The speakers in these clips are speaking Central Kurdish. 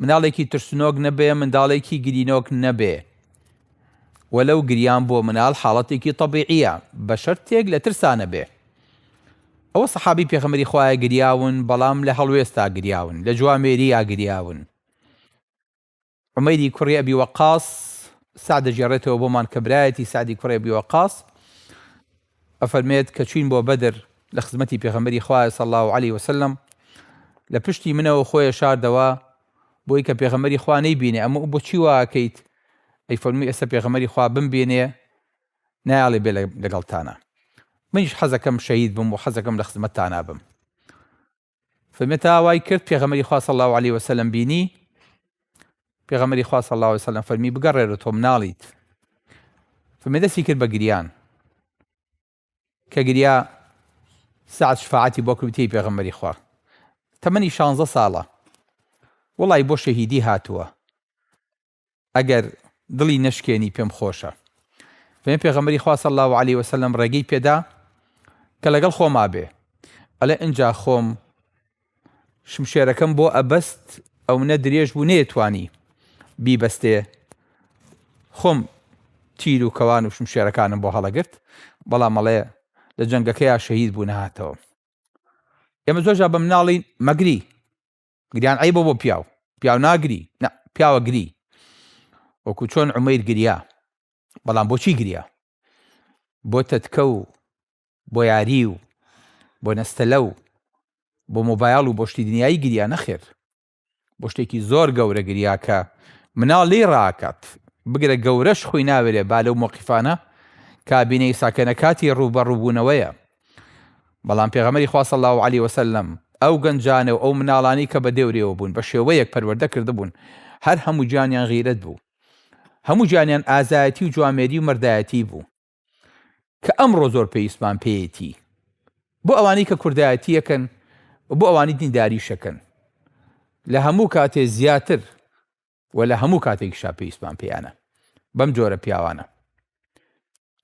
مناڵێکی ترسنۆک نەبێ منداڵێکی گرینۆک نەبێ وەلەو گریان بۆ مناڵ حاڵەتێکی تەبیعیە بەشەرتێک لە ترسا نەبێ ئەوە سەحابی پێخەمەری خوایە گریاون بەڵام لە هەڵوێستا گریاون لە جوامێرییا گریاون عمەری کوڕی ئەبی وەقاس سعدەجێڕێتەوە بۆمان کە برایەتی سعدی کوڕێ بیوەقاس ئەفەرمێت کە چوین بۆ بەدر لە خزمەتی پێغەمبەری خوایە صلی اللە علیە وسلم لە پشتی منەوە خۆێ شاردەوە بۆی کە پێغەمبەری خوا نەی بینێ ئەمە بۆچی واکەیت ئەی فەرموی ئێستا پێغەمبەری خوا بم بینێ نایاڵێ بێ لەگەڵتانە منیش حەزەکەم شەهید بم و حەزەکەم لە خزمەتتانا بم فەرمێت تا وای کرد پێغەمەری خوا صلی الله علیه وسلم بینی پێغەمەری خوا صلی الله علیه وسلم فەرمی بگەڕێرە تۆ مناڵیت فەرمی دەستی کرد بە گریان کە گریا سعد شفاعتی بۆ کردی پێغەمەری خوا تەمەنی 16 ساڵە وڵی بۆ شەهیدی هاتووە ئەگەر دڵی نەشکێنی پێم خۆشە. فەرمی پێغەمبەری خوا صلی اللە علیە وسلم ڕێگەی پێدا کە لەگەڵ خۆما بێ ئەڵێ ئنجا خۆم شمشێرەکەم بۆ ئەبەست ئەو نە درێژ بوو نێتوانی بیبەستێ خۆم تیر و کەوان و شمشێرەکانم بۆ هەڵەگرت بەڵام مەڵێ لە جەنگەکەیا شەهید بوو نهاتەوە ئێمە زۆرجا بە مناڵی مەگری گریان عەیبە بۆ پیاو پیاو ناگری نا پیاوە گری وەکو چۆن عمەیر گریا بەڵام بۆچی گریا بۆ تەتکە و بۆ یاری و بۆ نەستەلە و بۆ مۆبایل و بۆشتی دنیایی گریا نەخێر بۆ شتێکی زۆر گەورە گریا کە مناڵ لێی ڕاکات بگرە گەورەش خۆی ناوێرێ با لەو مۆقیفانە کابینەی ساکەنە کاتی ڕووبەڕووبوونەوەیە بەڵام پێغەمبەری خوا صلی الله علیه وسلم ئەو گەنجانە و ئەو مناڵانی کە بە دێورێوە بوون بە شێوەیەک پەروەردە کردبوون هەر هەموو گیانیان غیرەت بوو هەموو گیانیان ئازایەتی و جوامێری و مەردایەتی بوو کە ئەمڕۆ زۆر پێویستمان پێیەتی بۆ ئەوانی کە کوردایەتیەکەن بۆ ئەوانی دینداریشەکەن لە هەموو کاتێ زیاتر و لە هەموو کاتێکیشا پێویستمان پێیانە بەم جۆرە پیاوانە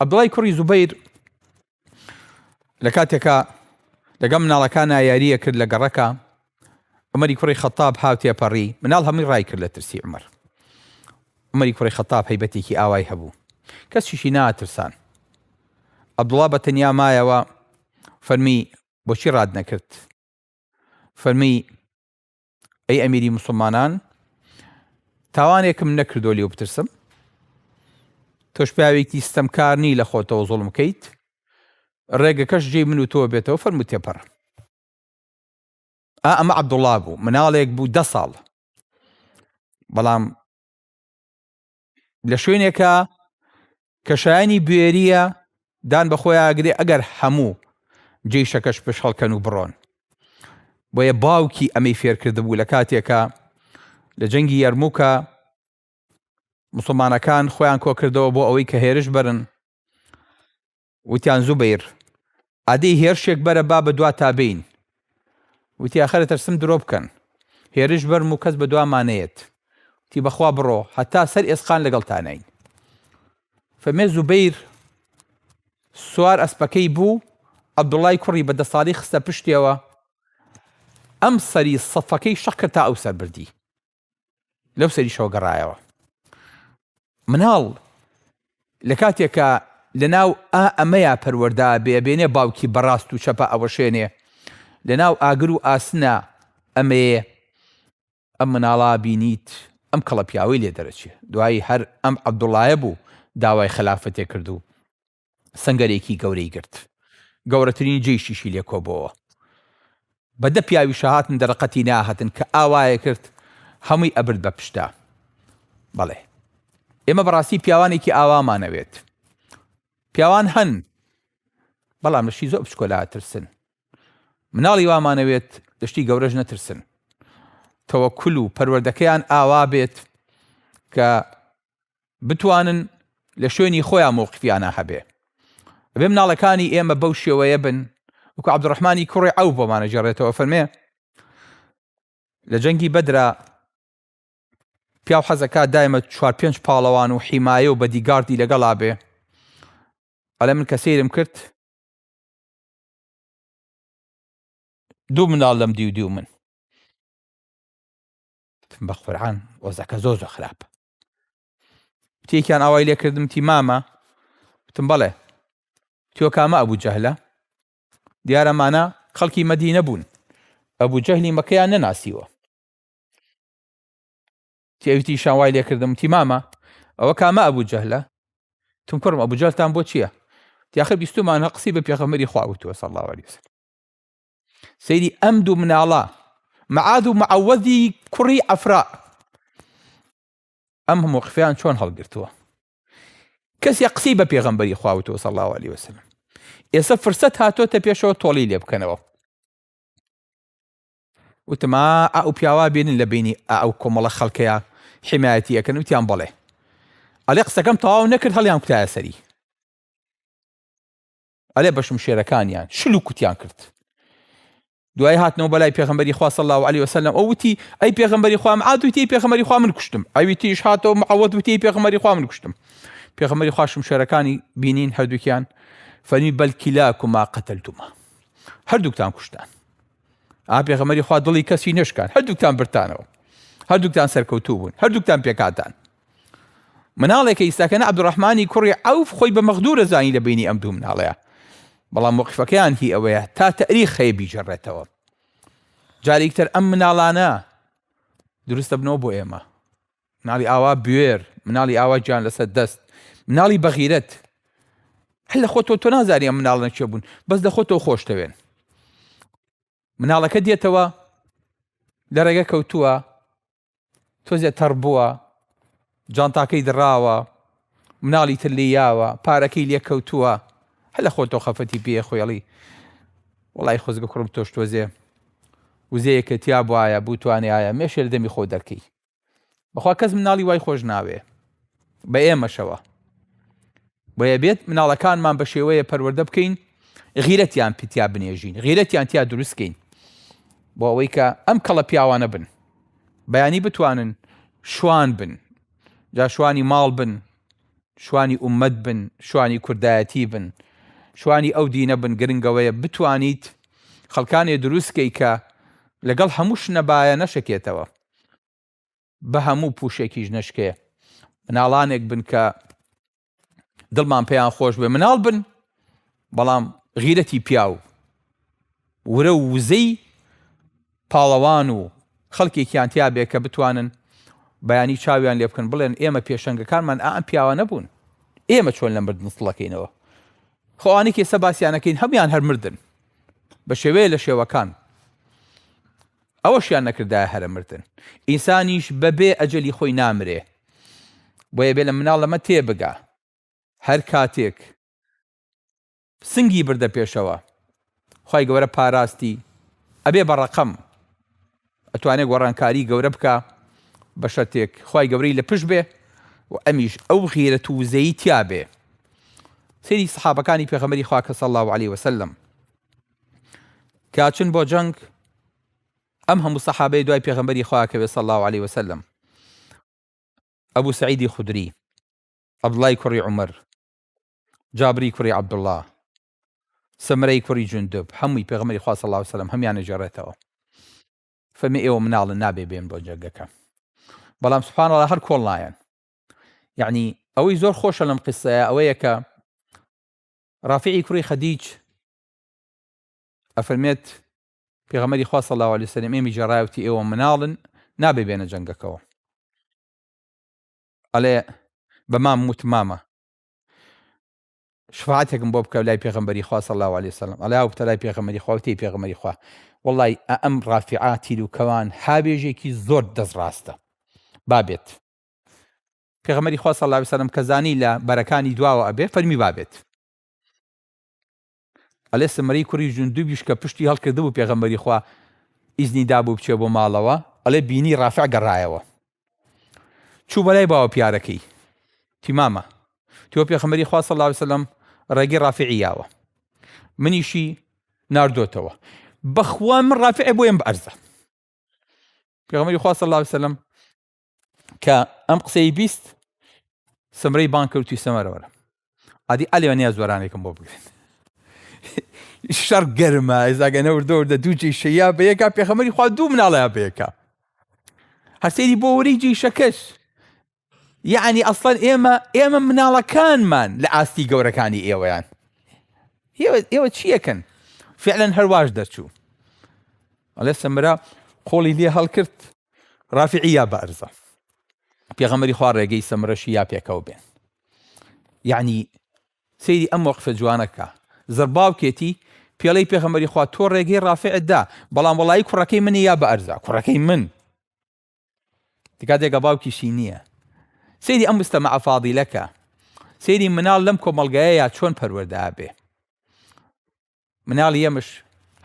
عەبدوڵای کوڕی زوبەیر لە کاتێکا لەگەڵ مناڵەکانە یاریە کرد لە گەڕەکە عمەری کوڕی خەتاب هاوتێپەڕی مناڵ هەمووی ڕای کرد لە ترسی عمر عمەری کوڕی خەتاب هەیبەتێکی ئاوای هەبوو کەسیشی ناترسان عەبدوڵا بە تەنیا مایەوە فەرمی بۆچی ڕاد نەکرد فەرمی ئەی ئەمیری مسلمانان تاوانێکم نەکردو لێو بترسم تۆش پیاوێکی ستەمکار نی لە خۆتەوە زوڵم کەیت ڕێگەکەش جێی من و تۆ بێتەوە فەرمو تێپەڕ ئا ئەمە عەبدوڵڵا بوو مناڵێک بوو دە ساڵ بەڵام لە شوێنێکە کە شایانی بوێریە دان بە خۆی ئاگرێ ئەگەر هەموو جێی شەکەش پش هەڵکەن و بڕۆن بۆیە باوکی ئەمەی فێرکرد بوو لە کاتێکە لە جەنگی یەرمووکە مسلمانەکان خۆیان کۆکردەوە بۆ ئەوەی کە هێرش بەرن وتیان زوبەیر ئادەی هێرشێک بەرە با بە دواتا بێین. وتی ئاخر ئەترسم درۆ بکەن. هێرش بەرم و کەس بە دواما نەیەت. وتی بە خوا بڕۆ هەتا سەر ئێسقان لەگەڵتاناین. فەمێ زوبەیر سوار ئەسپەکەی بوو عەبدوڵای کوڕی بە دە ساڵی خستە پشتێوە ئەم سەری سەفەکەی شەق کرد تا ئەو سەر بردی. لەو سەریشەوە گەڕایەوە مناڵ لە کاتێکە لە ناو ئا ئەمەیا پەروەەردا بێبێنێ باوکی بەڕاست و چەپە ئەوەشێنێ لە ناو ئاگر و ئاسنە ئەمەیێ ئەم مناڵا بینیت ئەم کەڵە پیاوەی لێ دەرەچێ دوایی هەر ئەم عەبدوڵایە بوو داوای خەلافەتێ کردو سەنگەرێکی گەورەی گرت گەورەترین جەیشیشی لێ کۆبۆوە بە دە پیاوی شەهاتن دەرەقەتی ناهتن کە ئاوایە کرد هەمووی ئەبرد بە پشتا بەڵێ ئێمە بەڕاستی پیاوانێکی ئاوامانەوێت پیاوان هەن بەڵام لەشی زۆر بچکۆلا ترسن مناڵی وامانەوێت لەشتی گەورەش نەترسن تەوەکل و پەروەردەکەیان ئاوا بێت کە بتوانن لە شوێنی خۆیان مەوقفیانە هەبێ بێ مناڵەکانی ئێمە بەو شێوەیە بن وکو عبدڕحمانی کوڕی ئەو بۆمانە جێڕێتەوە فەرمێ لە جەنگی بەدرا پیاو حەزەکە دایمە چوار پێنج پاڵەوان و حیمایە و بەدیگاردی لەگەڵا بێ ئەلە من کە سیرم کرد دوو مناڵ لەم دیو دیو من بەقورعان وەزەکە زۆر زۆر خراپ تێکیان ئاوای لێ کردم تی مامە وتم بەڵێ تۆ کامە ئەبوو جەهلە دیارەمانە خەڵکی مەدینە بوون ئەبوو جەهلی مەکەیان نەناسیوە تێویتی شاوای لێ کردم تی مامە ئەوە کامە ئەبوو جەهلە تم کوڕم ئەبوو جەلتان بۆ چییە یاخە بیستمانە قسی بە پێخەمەری خواوتوە سەڵاوەریسن سەیری ئەم دوو مناڵە معاد و معەوەدی کوڕی ئەفرا ئەم هەموو قفیان چۆن هەڵگرتووە کەسێ قسەی بە پێغەمبەری خواوتەوە سەڵ الله عليه وسلم ئێستا فرسەت هاتۆتە پێشەوە تۆڵی لێ بکەنەوە وتما ئەو پیاوا بێنن لە بینی ئەو کۆمەڵە خەڵکەیە حمایەتی ئەەکەن وتیان بڵێ ئەلێ قسەکەم تەواو نەکرد هەڵیان کوتایە سەری ئەلێ بە شمشێرەکانیان شل و کوتیان کرد دوای هاتنەوە بەلای پێغمبەری خوا صلی الله علیه وسلم ئەو وتی ئەی پێغمبەری خوام عاد وتی پێغمبەری خوا من کوشتم ئەوی تیش هاتەوە معەوەد وتی پێغمبەری خوا من کوشتم پێغمبەری خوا شمشێرەکانی بینین هەردووکیان فەرمی بەلکیلاکما قتلتما هەردووکتان کوشتان ئا پێغمبەری خوا دڵی کەسی نشکان هەردووکتان برتانەوە هەردووکتان سەرکەوتوو بوون هەردووکتان پێکاتان مناڵێکە ئیساکەنە عبدڕحمانی کوڕی ئەوف خۆی بە مەغدورە زانی لە بینی ئەم دوو مناڵەیە بەڵام وەقفەکەیان هی ئەوەیە تا تەریخ خەیە بیجێڕێتەوە جارێکتر ئەم مناڵانە دروستە بنەوە بۆ ئێمە مناڵی ئاوا بوێر مناڵی ئاوا گیان لەسەر دەست مناڵی بەغیرەت هەر لە خۆتۆ تۆ نازاری ئەم مناڵە چێ بوون بەس لە خۆتۆ خۆشتەوێن مناڵەکە دێتەوە لە ڕێگە کەوتووە تۆزێ تەڕ بووە، جانتاکەی دڕاوە، مناڵی تر لێ یاوە، پارەکەی لێ کەوتووە، هەلە خۆ تۆ خەفەتی پێ خۆێڵی وڵی خۆزگە کوڕم تۆش تۆزێ وزەیەکە تیا بواە بوتوانایە مێشێر دەمی خۆ دەرکەی بەخوا کەس مناڵی وای خۆش ناوێ بە ئێمەشەوە بۆیە بێت مناڵەکانمان بە شێوەیە پەروەردە بکەین غیرەتیان پیتیا بنێژین غیرەتیان تیا دروستکەین بۆ ئەوەی کە ئەم کەڵە پیاوانە بن بەیانی بتوانن شوان بن جا شوانی ماڵ بن شوانی ئومەت بن شوانی کوردایەتی بن شوانی ئەو دینە بن گرنگەوەیە بتوانیت خەڵکانێ دروستکەی کە لەگەڵ هەمووش نەبایە نەشەکێتەوە بەهەموو پوشێکیش نەشکێ مناڵانێک بن کە دڵمان پێیان خۆش بێ مناڵ بن بەڵام غیرەتی پیاو ورە و وزەی پاڵەوان و خەڵکێکیان تیا بێ کە بتوانن بەیانی چاویان لێ بکەن بڵێن ئێمە پێشەنگەکانمان ئەم پیاوە نەبوون ئێمە چۆن لە مردن سڵەکەینەوە خۆوانی کێسە باسییانەکەین هەموان هەر مردن بە شێوەیە لە شێوەکان ئەوەشیان نەکردایە هەرە مردن ئینسانیش بە بێ ئەجەلی خۆی نامرێ بۆیە بێ لە مناڵ لەمە تێ بگا هەر کاتێک سنگی بردە پێشەوە خوای گەورە پاراستی ئەبێ بە ڕەقەم ئەتوانێ گۆڕانکاری گەورە بکا بە شەرتێک خوای گەورەی لە پشت بێ و ئەمیش ئەو غیرەت و وزەی تیا بێ سری سەحابەکانی پێغەمبەری خوا کە صلی الله علیه وسلم کاچن بۆ جەنگ ئەم هەموو سەحابەی دوای پێغمبەری خواکەوێ سە الله عليه وسلم ئەبوو سعیدی خودری عبدڵای کوڕی عمر جابری کوڕی عبدله سمرەی کوڕی جوندب هەمووی پێغمەری خوا صلی الله عليه وسلم هەمیان نەجێڕێتەوە فەرمی ئێوە مناڵن نابێ بێن بۆ جەنگەکە بەڵام سبحانەڵە هەر کۆڵ نایەن یعنی ئەوەی زۆر خۆشە لەم قسەیە ئەوەیە کە ڕافعی کوڕی خەدیج ئەفەرمێت، پێغەمبەری خوا صلی اللە علیە وسلم ئێمی جێڕایوتی ئێوە مناڵن نابێ بێنە جەنگەکەوە. ئەڵێ بە مام وت مامە شفاعتێکم بۆ بکە لای پێغمبەری خوا صلی الله عليه وسلم ئەلا بتە لای پێغمبەری خوا وتی پێغمبەری خوا وڵی ئەم ڕافعا تیر و کەوان هاوێژێکی زۆر دەست ڕاستە بابێت پێغمەری خوا صلی الله عليه وسلم کەزانی لە بەرەکانی دواوە ئەبێ فەرمی بابێت ئەلێ سمرەی کوڕی جوندوبیش کە پشتی هەڵکردبوو پێغەمبەری خوا ئیزنی دابوو بچێ بۆ ماڵەوە، ئەڵێ بینی ڕافع گەڕایەوە چوو بەلای باوەپیارەکەی تی مامە تۆ پێخەمەری خوا صلی اللە علیه وسلم ڕێگەی ڕافعی یاوە منیشی ناردۆتەوە بەخوا من ڕافعێ بۆیم بەرزە پێغەمبەری خوا صلی اللە علیه وسلم کە ئەم قسەی بیست سمرەی بان کرد توی سەمەرەوەرە ئادی ئەلێ نیا زۆرانێکم بۆ بگرن شەڕ گەرمە ئێزاگە نەوردەوردە دوو جیشەیە بە یەکا پێخەمەری خوا دوو مناڵەیە بەیەکە هەسێری بۆ وری جیشەکەش یعنی ئەسڵەن ئێمە ئێمە مناڵەکانمان لە ئاستی گەورەکانی ئێوەیان ئێوە چیەکەن فعلەن هەرواش دەچوو ئەڵێ سەمرا قۆڵی لێ هەڵکرد رافعی یا بارزە پێغەمبەری خوا ڕێگەی سەمرەشی یا پێکەوە بێن یعنی سەیری ئەم وەقفە جوانەکە زرباوکێتی پێڵەی پێغەمبەری خوا تۆ ڕێگەی ڕافعت دا بەڵام وڵی کوڕەکەی منی یا بە ئەرزا کوڕەکەی من تکاتێکە باوکیشی نییە سەیری ئەم مستەمە ئەفادیلەکە سەیری مناڵ لەم کۆمەلگایە یا چۆن پەروەدا بێ مناڵی یەمش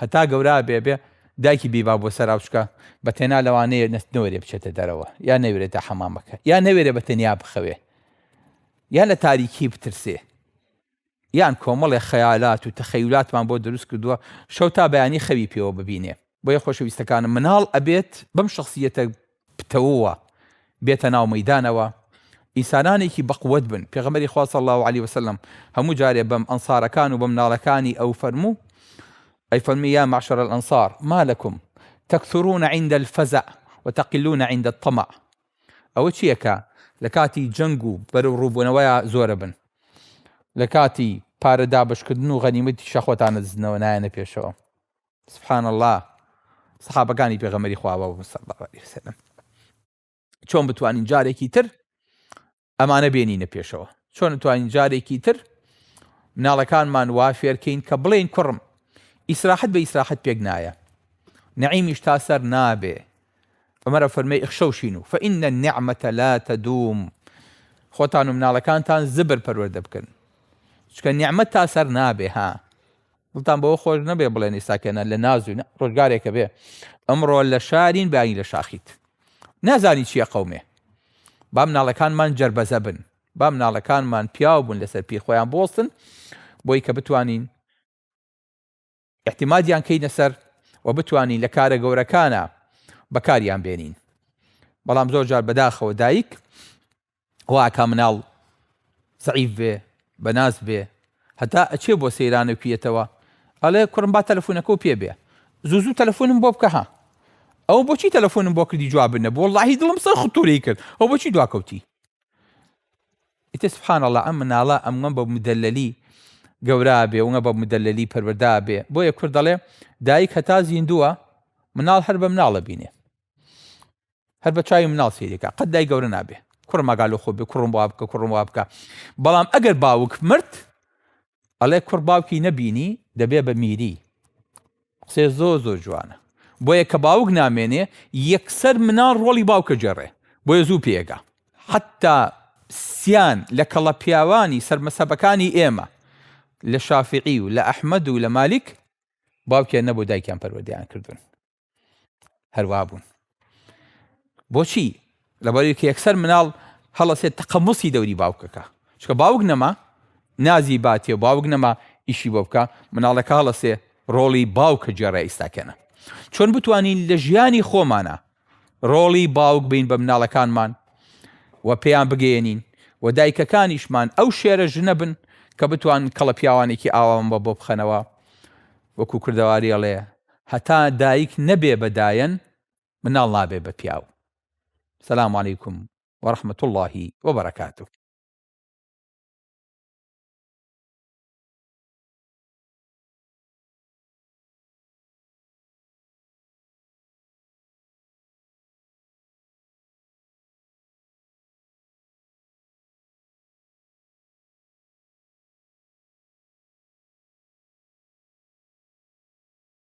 هەتا گەورا بێ بێ دایکی بی با بۆ سەرا بچکە بە تێنا لەوانەیە نەست نەوەێ بچێتە دەرەوە یا نەوێتە حەمامەکە یا نەوێرە بە تەنیا بخەوێ یان لە تاریکی بترسێ یان کۆمەڵێ خەیالات و تەخەیولاتمان بۆ دروست کردووە شەو تا بەیانی خەوی پێوە ببینێ بۆیە خۆشەویستەکانم مناڵ ئەبێت بەم شخصیەتە پتەووە بێتە ناو مەیدانەوە ئینسانانێکی بەقوەت بن پێغەمبەری خوا صلی اللە علیە وسلم هەموو جارێ بەم ئەنصارەکان و بەمناڵەکانی ئەو فەرموو ئەی فەرمی یا معشر الانصار ما لکم تکثرون عند الفزع وتقلون عند الطمع ئەوە چیە کە لە کاتی جەنگ و بەرەو ڕووبوونەوەیا زۆرە بن لە کاتی پارە دابەشکردن و غەنیمەتی شەخۆتان نەدزنەوە نایەنە پێشەوە سبحان اللە سەحابەکانی پێغەمەری خواوە چۆن بتوانین جارێکی تر ئەمانە بێنینە پێشەوە چۆن توانین جارێکی تر مناڵەکانمان وا فێرکەین کە بڵێن کوڕم ئیسراحەت بە ئیسراحەت پێک نایە نعیمیش تا سەر نابێ ئەمەرە فەرمی ئەخشەوشین و فەئینە نعممەتە لا تەدوم خۆتان و مناڵەکانتان زبر پەروەەردە بکەن چکە نیعممە تا سەر نابێ ها دڵتان بەوە خۆش نەبێ بڵێن ئیساکەێنە لە نازوو ڕۆژگارێکە بێ ئەمڕۆ لە شارین بانی لە شاخیت نازانی چییە قەومێ بام ناڵەکانمان جربەزە بن بام ناڵەکانمان پیاو بوون لەسەر پی خۆیان بۆستن بۆی کە بتوانین احتیمادیان کەینە سەر و بتوانین لە کارە گەورەکانە بەکاریان بێنین بەڵام زۆر جار بەداخەوە دایک واکا مناڵ زەعیف بێ بەناز بێ هەتا ئەچێ بۆ سەیران و پیەتەوە ئەڵێ کوڕم با تەلەفۆنەکە و پێ بێ زوو زوو تەلەفۆنم بۆ بکە ها ئەو بۆچی تەلەفۆنم بۆ کردی جواب بنە بۆ اللهی دڵم سەر خطوری کرد ئەو بۆچی دواکەوتی ئیتە سبحان الله ئەم مناڵە ئەمگەم بە مدەللی گەورا بێ وە بە مدەللی پەروەدا بێ بۆیە کورد دەڵێ دایک هەتا زیندووە مناڵ هەر بە مناڵە بینێ هەر بە چاوی مناڵ سەیری کا قەت دای گەورە نابێ کوڕ ماگالۆ خۆ بێ کوڕم وا بکە کوڕم وا بکە بەڵام ئەگەر باوک مرد ئەڵێ کوڕ باوکی نەبینی دەبێ بە میری قسێ زۆ زۆ جوانە بۆیە کە باوک نامێنێ یەکسەر مناڵ ڕۆڵی باوکە جێڕێ بۆیە زوو پێگا حتا سیان لە کەڵە پیاوانی سەرمەسەبەکانی ئێمە لە شافعی و لە ئەحمد و لە مالیک باوکیان نەبوو دایکیان پەروەدەیان کردوون هەروا بوون بۆچی لەبەری کە یەکسەر مناڵ هەڵەسێت تەقەمسی دەوری باوکەکە چکە باوک نەما نازی باتێ و باوک نەما ئیشی بۆ بکە مناڵەکە هەڵەسێ ڕۆڵی باوکە جێڕای ئیستاکەنە چۆن بتوانین لە ژیانی خۆمانە ڕۆڵی باوک بین بە مناڵەکانمان و پێیان بگەێنین و دایکەکانیشمان ئەو شێرە ژنە بن کە بتوان کەڵە پیاوانێکی ئاوام بە بۆ بخەنەوە وەکو کردەواریەڵێ هەتا دایک نەبێ بە دایەن مناڵ نابێ بە پیاو سلام علیکم و رحمە اللە و برکاته.